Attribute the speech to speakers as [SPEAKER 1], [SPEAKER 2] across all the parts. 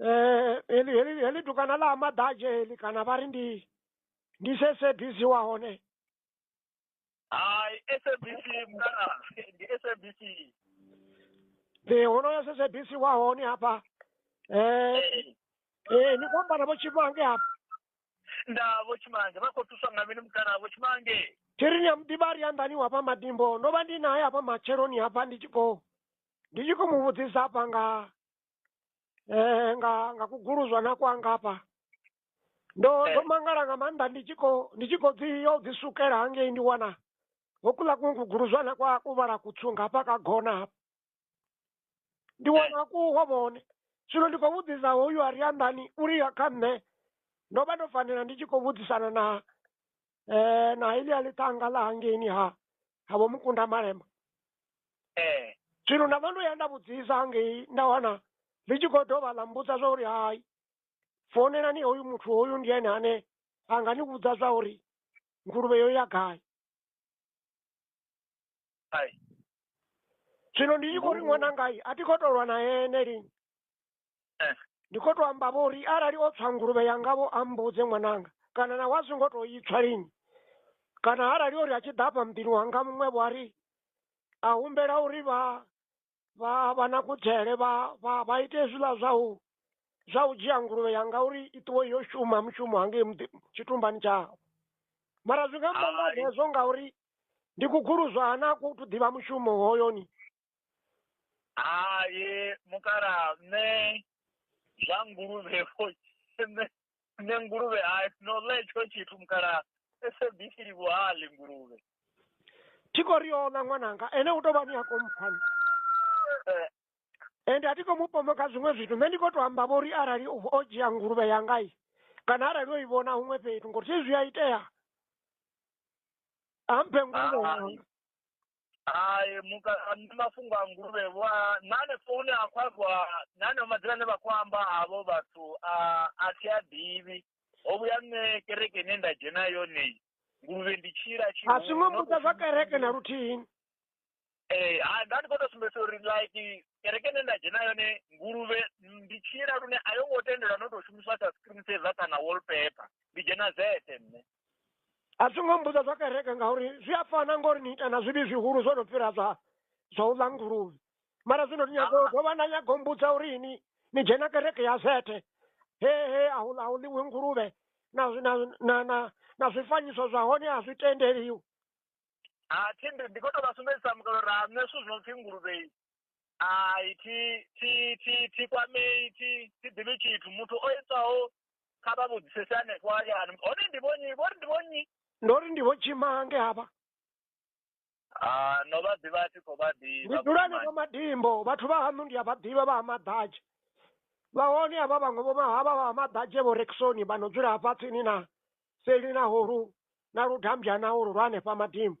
[SPEAKER 1] eh heli heli heli dukana ḽa ha maḓadzhe heli kana vha ri ndi ndi se sabc wa hone
[SPEAKER 2] hai sabc mkana ndi sabc
[SPEAKER 1] ndi honoyo se sabc wa hone hafha eh eh ni khou amba na vho tshimange hafha nda
[SPEAKER 2] vho tshimange vha khou thuswa nga mini mkana vho tshimange thiri ni ya muḓivhari
[SPEAKER 1] ya nḓani wafha madimbo ndo vha ndi naye hafha matsheloni hafha ndi tshi khou ndi tshi khou mu vhudzisa hafha nga eh, nga nga kuguluzwa na kwanga hafha ndo Eh. ndo mangala nga maanḓa ndi tshi khou ndi tshi khou dzi yo dzi sukela hangei ndi wana hokuḽa kuṅwe kuguluzwa na kwa ku vhala kutswu nga hafha ka gona hafha ndi wana ku ho vhone zwino ndi khou vhudzisa hoyu a ri anḓani uri ya kha nṋe ndo vha ndo fanela ndi tshi khou vhudzisana na eh, na ili alitanga la hangeni ha havo mukunda malema eh zwino nda vha ndo ya nda vhudzisa hangei nda wana ḽi tshi khou dovha ḽa mbudza zwa uri hai founelani hoyu muthu hoyu ndi ene ane a nga ni vhudza zwa uri nguluvhe yo ya gai ai zwino ndi tshi khou ri ṅwanangai a thi khou tou lwa na ene lini Eh. ndi khou tou amba vho uri arali o tswa nguluvhe yanga vho ambudze ṅwananga kana na wa zwi ngo tou itswa lini kana arali uri a tshi ḓa afha muḓini wanga muṅwe vho ari a humbela uri vha vha vha na kudzele vha vha vha ite zwiḽa zwa u zwa u dzhia nguluvhe yanga uri i ṱuwe yo shuma mushumo hangei muḓi- tshitumbani tshawe mara zwi nga amba nga Hai. hezwo ngauri ndi kuguluzwa hana ku tu ḓivha mushumo hoyoni hai
[SPEAKER 2] mukalaha nṋe zwa nguluvhe vho nṋe nṋe nguluvhe hai no ḽa hetsho tshithu mukalaha SABC livhuwa haḽi nguluvhe thi khou
[SPEAKER 1] ri oḽa ṅwananga ene u tou vha ni a khou mpfani Eh, ende a thi khou mu pomba kha zwiṅwe zwithu nṋe ndi khou tou amba vho uri arali o o dzhia nguluvhe yanga i kana arali o i vhona huṅwe fhethu ngori thi zwi a itea a mphe nguluvhe Hai. yanga hai muka
[SPEAKER 2] nṋe mafhungo a nguluvhe vho a- na hanefho hune ha khou ambiwa na haneo madzina ane vha khou amba havho vhathu a a thi a ḓivhi ho vhuya nṋe kereke ine nda dzhena yone iyi, nguluvhe ndi tshila a tshihulu, zwingo not mbudza zwa upfi- kereke
[SPEAKER 1] na luthihi Eh,
[SPEAKER 2] ha nda ndi khou tou sumbedzisa uri like kereke ine nda dzhena yone nguluvhe ndi tshila lune a yo ngo tendelwa no tou shumiswa sa screen saver kana wallpaper ndi dzhena zete nṋe a zwi ngo
[SPEAKER 1] mmbudza zwa kereke ngauri zwi a fana ngori ni ita na zwivhi zwihulu zwo no fhira zwa zwa u ḽa nguluvhe mara zwino ni nyago u dovha na nyago u mbudza uri ini ni dzhena kereke ya zethe he he a hu a hu ḽiwi nguluvhe na zwi- na na na na zwifanyiso zwa hone a zwi tendeliwi a
[SPEAKER 2] thende ndi khou tou vha sumbedzisa mukalo ra nṋe zwithu zwi no pfhi nguluvhe ai thi thi thi thi kwamei thi thi ḓivhi tshithu muthu o itaho kha vha vhudzisese hanefho hayani hone ndi vhonyi vhori ndi vhonyi ndo ri ndi vho
[SPEAKER 1] tshimange havha Ah, no
[SPEAKER 2] vha ḓivha a thi khou vha ndi ḓivha dzula vhukuma. henefho madimbo
[SPEAKER 1] vhathu vha haṋu ndi a vha ḓivha vha ha maḓadzhe vha hone havha vhaṅwe vho mahavha vha ha maḓadzhe vho reksoni vha no dzula hafha tsini na seli na holu na ludambya na holu lwa hanefha madimbo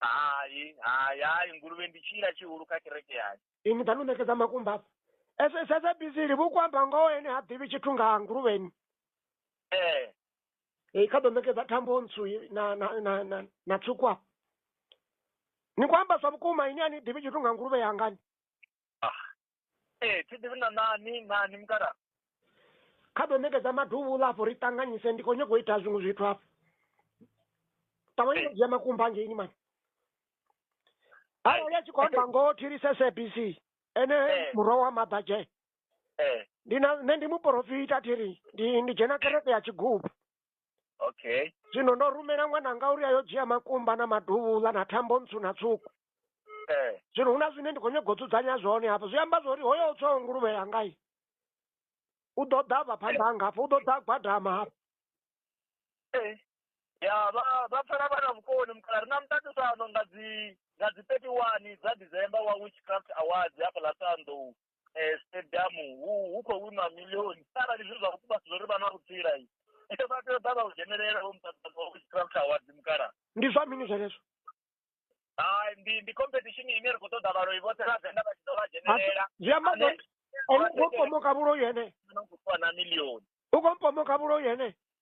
[SPEAKER 1] hai hai
[SPEAKER 2] hai nguluvhe ndi tshila tshihulu kha kereke yayo ini ḓa no ṋekedza
[SPEAKER 1] makumba afha ese sedza bizili vhu kwamba ngoho ene ha ḓivhi tshithu nga nguluvheni ee e kha ḓo ṋekedza thambo ntsu i- na na na na, na tswuku afha ni khou amba zwa vhukuma ini a ni ḓivhi tshithu nga nguluvhe yangani ah ee
[SPEAKER 2] thi ḓivhi na nani nani mukala kha
[SPEAKER 1] ḓo ṋekedza maduvhula afho ri ṱanganyise ndi khou nyoko ita zwiṅwe zwithu afho ṱavhanye ndo dzhia makumba ngeini mani arali a tshi khou amba ngoho thilise sabc ene murwa wa maḓadzhe ndi na nṋe ndi muporofita thiri ndi ndi dzhena kereke ya tshigubu okay
[SPEAKER 2] zwino ndo rumela
[SPEAKER 1] ṅwananga uri ayo dzhia makumba na maduvhula na thambo ntswu na tswuku eh zwino hu na zwine ndi khou nyaga u dzudzanya zwone hafho zwi amba zwori hoyo tswaho nguluvhe yangai u ḓo ḓa vha phanḓa hanga hafho u ḓo ḓa gwadama hafho eh
[SPEAKER 2] ya vha vha pfala vha na vhukoni mukala ri na muṱaṱisano nga dzi nga dzi 31 dza December wa Witchcraft Awards hafha ḽa Sanḓou eh, stadium hu hu khou winwa milioni arali zwi zwa vhukuma zwo ri vha na vhutsila i ende vha tea u ḓa vha u dzhenelela vho muṱaṱa wa witchcraft awards mukala ndi zwa mini zwenezwo
[SPEAKER 1] hai
[SPEAKER 2] ndi ndi competition ine ri khou ṱoḓa vhaloi vhoṱhe vha venḓa vha tshi ḓo vha dzhenelela zwi amba Ane-
[SPEAKER 1] zwori ene u khou mpomoka vhuloi ene na u khou fhiwa na milioni
[SPEAKER 2] u khou mpomoka vhuloi
[SPEAKER 1] ene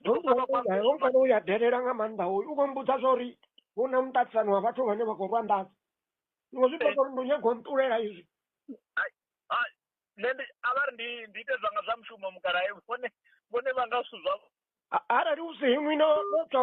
[SPEAKER 2] ndoofanouyaofanira
[SPEAKER 1] uya dherera nga maanḓa uyu u khou mbudza zwa uri hu na muṱaṱisano wa vhathu vhane vha khou rwa nḓadza zwiṅwe zwi ṱoḓa uri ndi nyago nṱulela izwi nṋe ndi
[SPEAKER 2] a vha ri ndi ndi ite zwanga zwa mushumo mukalae vhone vhone vha nga zwithu zwavho arali u si iṅwi
[SPEAKER 1] no
[SPEAKER 2] no tswa